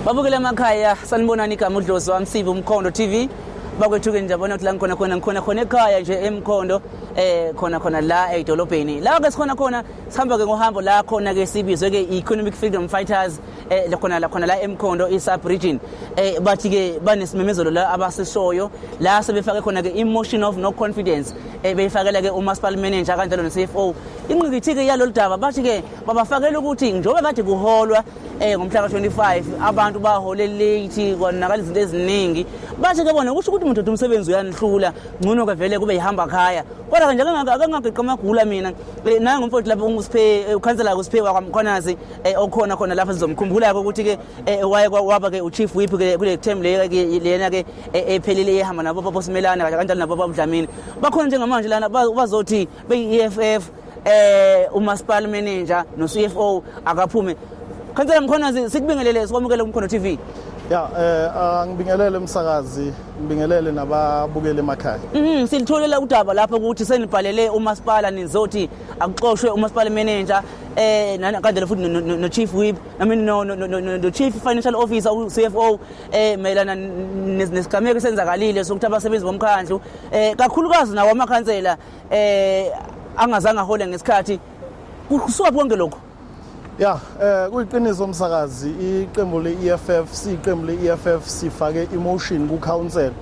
babukele emakhaya sanibonani igama udlozi wami sive umkhondo tv bakwethukeni ndiyabona ukuthi la ngikhona khona ngikhona khona ekhaya nje emkhondo eh khona khona la edolobheni la ke sikhona khona sihamba ke ngohambo la khona ke sibizwe ke economic freedom fighters eh khona la khona la emkhondo isub region eh bathi ke banesimemezelo la abasishoyo la sebefake khona ke emotion of no confidence eh beyifakela ke umasipala manager kanjalo ne CFO inqikithi ke yalolu daba bathi ke babafakela ukuthi njengoba kade kuholwa Eh ngomhla ka-25 abantu bahole late konakala izinto eziningi basho ke bona kusho ukuthi umuntu umsebenzi uyanihlula ngcono ke vele kube yihamba khaya kodwa nje akangageqa amagula mina eh, naye ngomfowethu lapho uSiphe eh, ukhansela uSiphe wakwamkhonazi eh, okhona khona lapha sizomkhumbula ke ukuthi ke waye waba ke uchief whip ke kule term le lena ke ephelile ehamba nabo baba Simelane kanjalo nabo baba Dlamini bakhona njengamanje lana bazothi beyi-EFF eh umasipala manager no-CFO akaphume Khansela Mkhonazi sikubingelele sikwamukele kuMkhono TV Ya eh angibingelele umsakazi ngibingelele nababukeli emakhaya Mhm silitholela udaba lapho ukuthi senibhalele umasipala nizothi akuxoshwe umasipala manager eh kanjalo futhi no chief whip i mean no no no chief financial officer u CFO eh mayelana nesigameko senzakalile sokuthi abasebenzi bomkhandlu eh kakhulukazi nawo amakhansela eh angazange ahole ngesikhathi kusuka konke lokho ya eh kuyiqiniso umsakazi iqembu le-EFF siyiqembu le-EFF sifake emotion ku-council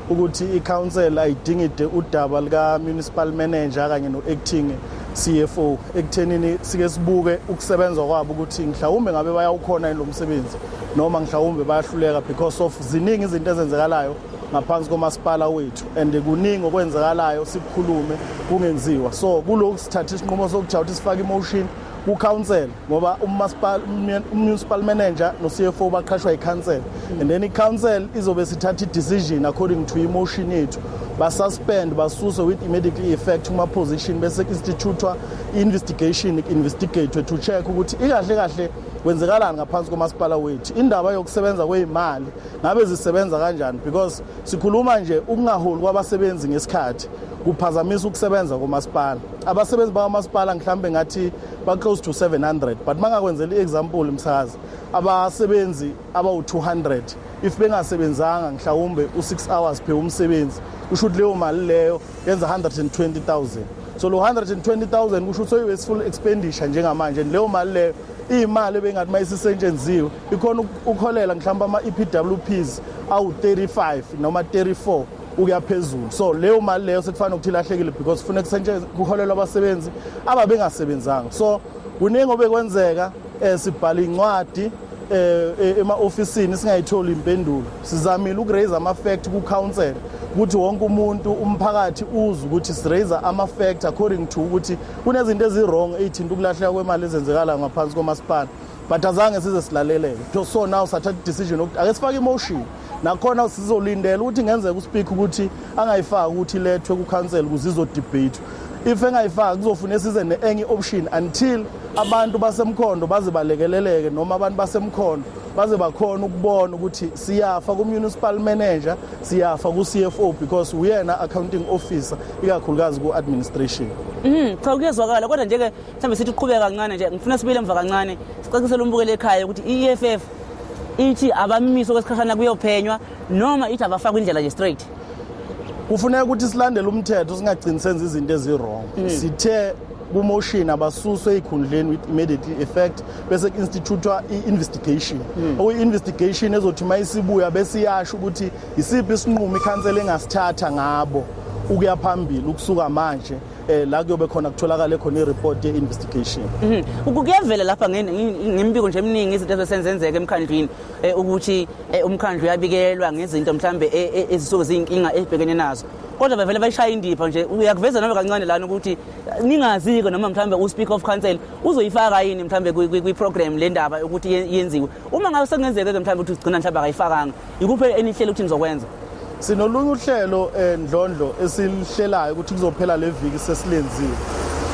ukuthi i-council ayidingide udaba lika-municipal manager kanye no-acting CFO ekuthenini sike sibuke ukusebenza kwabo ukuthi mhlawumbe ngabe bayawukhona yini lo msebenzi noma mhlawumbe bayahluleka because of ziningi izinto ezenzekalayo ngaphansi komasipala wethu and kuningi okwenzakalayo sikukhulume kungenziwa so kulokhu sithatha isinqumo sokujha ukuthi sifake imotion kucouncil ngoba umunicipal manager no-cfo baqhashwa yicouncil and then icouncil izobe sithatha i-decision according to imotion yethu basuspend basuse with immediately effect kuma-position bese instituthwa i-investigation investigate to check ukuthi ikahle kahle kwenzekalani ngaphansi komasipala wethu indaba yokusebenza kweyimali ngabe zisebenza kanjani because sikhuluma nje ukungaholi kwabasebenzi ngesikhathi kuphazamisa ukusebenza komasipala abasebenzi bakamasipala mhlawumbe ngathi ba-close to 700 but mangakwenzela i-example msakazi abasebenzi abawu-200 if bengasebenzanga mhlawumbe u-6 hours phe umsebenzi usho ukuthi leyo mali leyo yenza 120,000 so lo 120,000 kusho ukuthi uyi full expenditure njengamanje leyo mali leyo iyimali ebengathi mayisisetshenziwe ikhona ukholela mhlawumbe ama EPWPs awu 35 noma 34 ukuya phezulu so leyo mali leyo sekufanele ukuthi ilahlekile because kufuneka kusetshenzwe kuholelwa abasebenzi ababengasebenzanga so kuningi obekwenzeka eh sibhala incwadi eh, eh, ema-ofisini singayitholi impendulo sizamile ukuraise ama-fact ku-council ukuthi wonke umuntu umphakathi uzwe ukuthi siraise ama-fact according to ukuthi kunezinto ezi-wrong eyithinta ukulahleka kwemali ezenzekalayo ngaphansi komasipala but azange size silaleleke so now sathatha i-decision yokuthi ake sifake imotion nakhona sizolindela ukuthi ngenzeka uspeak ukuthi angayifaki ukuthi ilethwe kukhansela ukuze izodebate if engayifaki kuzofuna size ne-enye option until abantu basemkhondo baze balekeleleke noma abantu basemkhondo baze bakhona ukubona ukuthi siyafa ku-municipal manager siyafa ku-cfo because uyena accounting officer ikakhulukazi ku-administration mhm cha kuyezwakala kodwa nje-ke mhlawumbe sithi uqhubeka kancane nje ngifuna sibuyele emva kancane sicacisele umbukele ekhaya ukuthi i-eff ithi abamimise okwesikhashana kuyophenywa noma ithi abafakwe indlela nje straight kufuneka ukuthi silandele umthetho singagcini senza izinto eziwrong mm. sithe kumotion abasuswe ezikhundleni with immediately effect bese ku-institutwa i-investigation mm. okuyi-investigation ezothi uma isibuya bese iyasho ukuthi yisiphi isinqumo ikhansela engasithatha ngabo ukuya phambili ukusuka manje eh la kuyobe khona kutholakala khona ireport ye investigation mhm. kuyavela lapha ngembiko nje eminingi izinto ezesenzenzeka emkhandlwini eh, ukuthi eh, umkhandlu uyabikelwa ngezinto mhlambe eh, ezisuke ziyinkinga ebhekene nazo kodwa bavele bayishaya indipha nje uyakuveza nalo kancane lana ukuthi ningazike noma mhlambe uspeaker of council uzoyifaka yini mhlambe kwi-program le ndaba ukuthi yenziwe uma ngabe sekungenzeke-ke mhlambe ukuthi ugcina mhlambe akayifakanga Ikuphi enihlele ukuthi nizokwenza? Sinolunye uhlelo endlondlo eh, esilihlelayo ukuthi kuzophela le viki sesilenzile.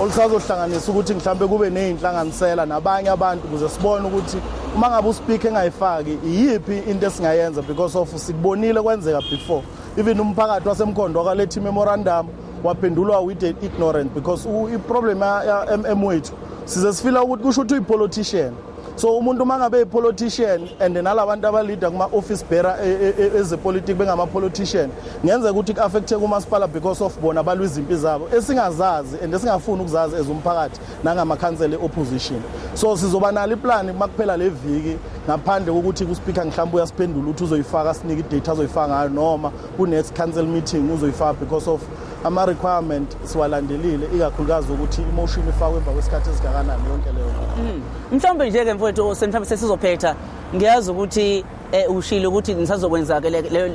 Olusazohlanganisa ukuthi mhlambe kube nezinhlanganisela nabanye abantu ukuze sibone ukuthi uma ngabe uspeaker engayifaki iyiphi into esingayenza because of sikubonile kwenzeka before. Even umphakathi wasemkhondo wakaletha memorandum waphendulwa with ignorant because i problem ya MM wethu size sifila ukuthi kusho ukuthi uyi politician. so umuntu uma ngabe yi-politician and nalabantu abaleader kuma-office bearer e, e, e, ezepolitiki bengama-politician ngenzeka ukuthi ku-affecthe kumasipala because of bona balwa izimpi zabo esingazazi and esingafuni ukuzazi as umphakathi nangamakhansela e-opposition so sizoba nalo iplani uma kuphela le viki ngaphandle kokuthi kuspeaker mhlawumbe uyasiphendula ukuthi uzoyifaka sinike idate azoyifaka ngayo noma ku-next council meeting uzoyifaka because of ama requirement siwalandelile ikakhulukazi ukuthi imotion ifakwe emva kwesikhathi esingakanani yonke leyo hmm. mhlawumbe nje ke mfowethu senithambe sesizophetha ngiyazi ukuthi eh, ushilo ukuthi nisazokwenza ke leyo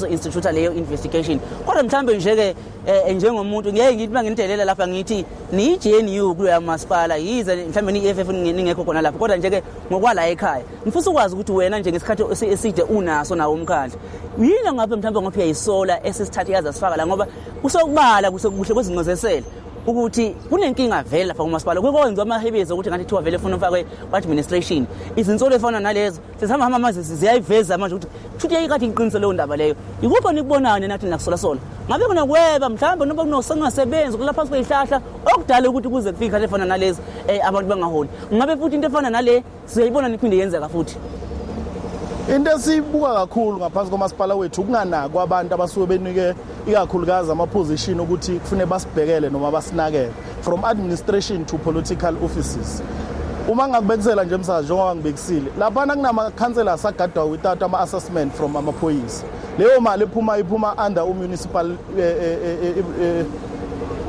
institute leyo investigation kodwa mhlawumbe nje ke eh, njengomuntu ngeke ngithi manginitelela lapha ngithi ni JNU kulo yamasipala yize mhlawumbe ni EFF ningekho khona lapha kodwa nje ke ngokwala ekhaya ngifisa ukwazi ukuthi wena nje ngesikhathi eside unaso nawo umkhandla yini ongabe mhlawumbe ngoba uyayisola esesithathe yazi asifaka la ngoba kusokubala kuhle kwezincozesele ukuthi kunenkinga vele lapha kumasipala kwekwenziwa amahebezo ukuthi ngathi thiwa vele funa ufakwe ku-administration izinsolo efana nalezo sesihamba hamba manje ziyayiveza manje ukuthi kushuthi yayikade iqiniso leyo ndaba leyo yikuphi onikubonayo nenathi nakusolasola ngabe kunokweba mhlawumbe noba kunosengasebenzi kula phansi kweyihlahla okudala ukuthi kuze kufike ikhale efana nalezi um abantu bangaholi ngabe futhi into efana nale Sizoyibona niphinde yenzeka futhi. Into esibuka kakhulu ngaphansi komasipala wethu ukunganakwa abantu abasuke benike ikakhulukazi amaposition ukuthi kufune basibhekele noma basinakele from administration to political offices. Uma ngakubekisela nje msazi njengoba ngibekisile lapha kunama councillors agadwa without ama assessment from amaphoyisa. Leyo mali ephuma iphuma under u municipal eh, eh,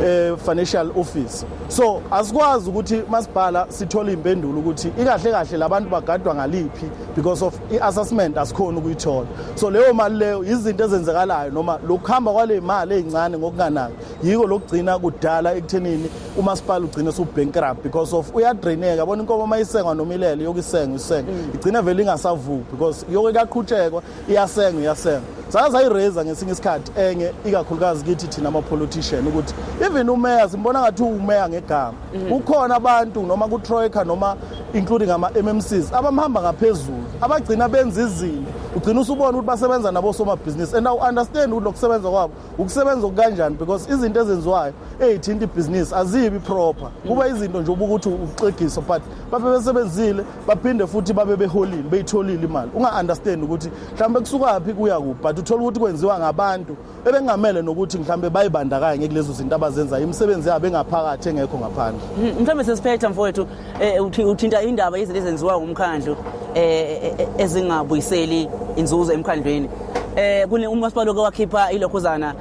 eh, financial office. so asikwazi ukuthi masibhala sithole impendulo ukuthi ikahle kahle labantu bagadwa ngaliphi because of i-assessment asikhona ukuyithola so leyo mali leyo izinto ezenzekalayo noma lokuhamba kwale mali ezincane ngokunganaki yiko lokugcina kudala ekuthenini umasipala ugcine subankrupt because of uyadraineka bona inkomo mayisengwa nomilele yokusenga isenga mm. igcina vele ingasavuki because yoke kuyaqhutshekwa iyasenga iyasenga sake sayiraise ngesinye isikhathi enye ikakhulukazi kithi thina ama-politician ukuthi even umeya simbona ngathi uwumeya ngegama mhm. kukhona abantu noma kutroika noma including ama-mmcs abamhamba ngaphezulu abagcina benza izinto ugcina usubona ukuthi basebenza nabosomabhizinisi and awu-understand ukuthi lokusebenza kwabo ukusebenza okukanjani because izinto ezenziwayo ezithinta ibhizinisi azibi proper kuba izinto nje ubukuthi uxegiso but babe besebenzile baphinde futhi babe beholile beyitholile imali unga-understand ukuthi mhlawumbe kusukaphi kuya kuphi but uthole ukuthi kwenziwa ngabantu ebengamele nokuthi mhlawumbe bayibandakanye kulezo zinto abazenzayo imisebenzi yabo engaphakathi engekho ngaphandle mhlawumbe sesiphetha mfowethu Eh, uthinta indaba izinto ezenziwa ngumkhandlu eh, eh, ezingabuyiseli inzuzo emkhandlwini eh kune umasipala oke wakhipha ilokhuzana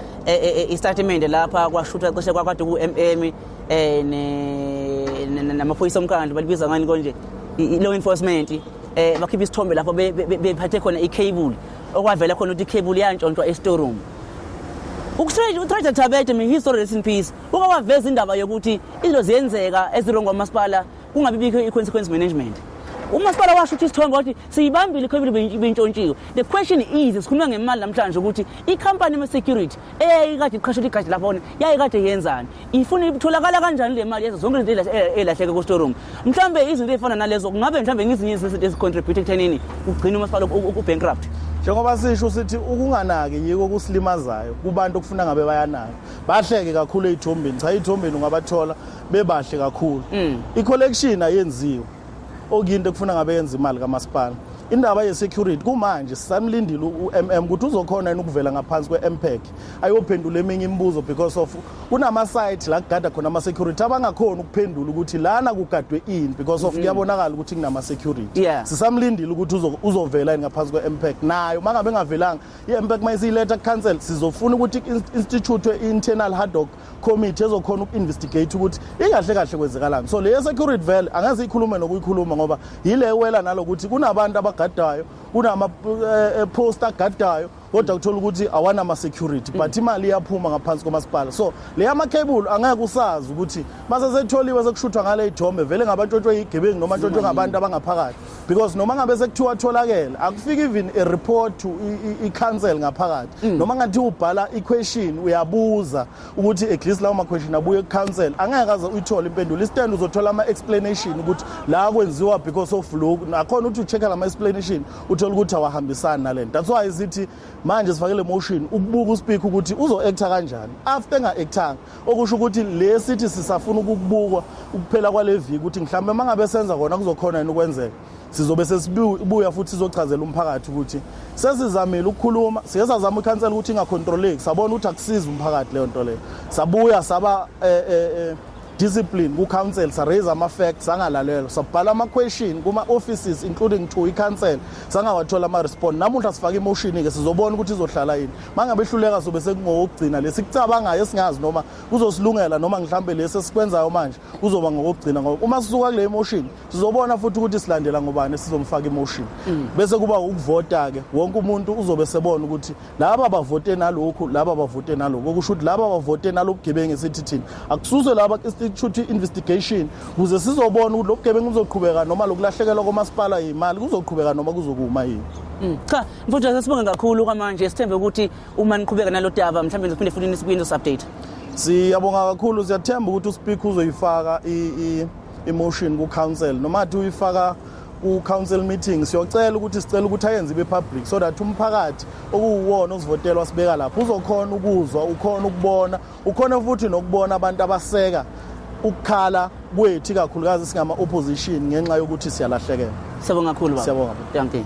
istatimende lapha kwashutha cishe kwakade ku-mm eh namaphoyisa omkhandlu balibiza ngani konje i-law enforcement eh bakhipha isithombe lapho bephathe khona i-cable okwavela khona ukuthi i-cable yantshontshwa e-storeroom ukusrage utraja thabete me history rest in peace Uke waveza indaba yokuthi izinto ziyenzeka ezirongo kwamasipala kungabi bikho i-consequence management. umasipala washo ukuthi isithombe wathi siyibambile ikhobile bentshontshiwe the question is sikhuluma ngemali namhlanje ukuthi ikhampani yama-security eyayikade iqhashela igadi lakhona yayikade yenzani ifuna itholakala kanjani le mali yezo zonke izinto ey'lahleke eh, kustorum mhlawumbe izinto ey'fana nalezo kungabe mhlawumbe ngezinye izinto ezicontribute ekuthenini ugcine umasipala ubankrupt njengoba sisho sithi ukunganaki yiko kusilimazayo kubantu okufuna ngabe bayanaka bahleke kakhulu ey'thombeni cha ey'thombeni ungabathola bebahle kakhulu mm. i-collection ayenziwe okuyinto ekufuna ngabe yenza imali kamasipala indaba ye-security kumanje sisamlindile u-mm ukuthi uzokhona yini ukuvela ngaphansi kwe-mpec ayophendula eminye imibuzo because of kunama-site la kugada khona ama-security abangakhoni ukuphendula ukuthi lana kugadwe ini because of mm. kuyabonakala ukuthi kunama-security sisamlindile ukuthi uzovela yini ngaphansi kwe-mpec nayo uma ngabe engavelanga Yeah, in fact, my letter cancel sizofuna ukuthi institute internal hard dog committee ezokhona uku-investigate ukuthi ingahle kahle kwenzekalani so le security vele angeze ikhulume nokuyikhuluma ngoba yile wela nalokuthi kunabantu abagadayo kunama-post eh, eh, agadayo kodwa kuthola ukuthi awanama-security mm. but imali iyaphuma ngaphansi komasipala so le yamakhebulu angeke usazi ukuthi masesetholiwe sekushuthwa ngale ithombe vele ngabatshotshwe yigebengu noma ntshotshwe ngabantu abangaphakathi because noma ngabe sekuthiwa atholakele akufiki even a report to i-council ngaphakathi mm. noma ngathi ubhala i-question uyabuza ukuthi at least lawo ma-question abuye ku-council angeke aze uyithole impendulo istand uzothola ama-explanation ukuthi la kwenziwa because of loku nakhona ukuthi ucheck-a lama-explanation uthole ukuthi awahambisani nale nto that's why sithi manje sifake le motion ukubuka uspeak ukuthi uzo-acta kanjani after enga-actanga okusho ukuthi le sithi sisafuna ukubukwa ukuphela kwale viki ukuthi mhlawumbe uma ngabe senza kona kuzokhona yini ukwenzeka sizobe sesibuya futhi sizochazela umphakathi ukuthi sesizamile ukukhuluma siye sazama ikhansela ukuthi ingakhontroleki sabona ukuthi akusizi umphakathi leyo nto leyo sabuya saba eh, eh, eh, discipline ku-council saraise ama-facts sangalalelwa sabhala ama-question kuma-offices including to i-council sangawathola ama-respond namuhla sifake imoshini-ke sizobona ukuthi izohlala yini mangabe ehluleka sobe sekungokugcina lesikucabangayo esingazi noma kuzosilungela noma mhlawumbe lesi esikwenzayo manje kuzoba ngokugcina ngoba uma sisuka kule emotion sizobona futhi ukuthi silandela ngobani sizomfaka emotion mm. bese kuba ukuvota ke wonke umuntu uzobe sebona ukuthi laba bavote nalokhu laba bavote nalokho okusho ukuthi laba bavote nalobugebengu esithi thina akususwe laba institute investigation kuze sizobona ukuthi lobugebengu buzoqhubeka noma lokulahlekelwa komasipala imali kuzoqhubeka noma kuzokuma yini mm. cha Mfuthu sasibonge kakhulu kwamanje sithembe ukuthi uma niqhubeka nalo daba mhlawumbe ngizophinde futhi nisibuyeni update. Siyabonga kakhulu siyathemba ukuthi uSpeaker uzoyifaka i emotion ku council noma athi uyifaka ku council meeting siyocela ukuthi sicela ukuthi ayenze ibe public so that umphakathi okuwuwona osivotelwa sibeka lapho uzokhona ukuzwa ukhona ukubona Ukhona futhi nokubona abantu abaseka ukukhala kwethu kakhulukazi singama opposition ngenxa yokuthi siyalahlekela. Siyabonga kakhulu baba. Siyabonga. Thank you.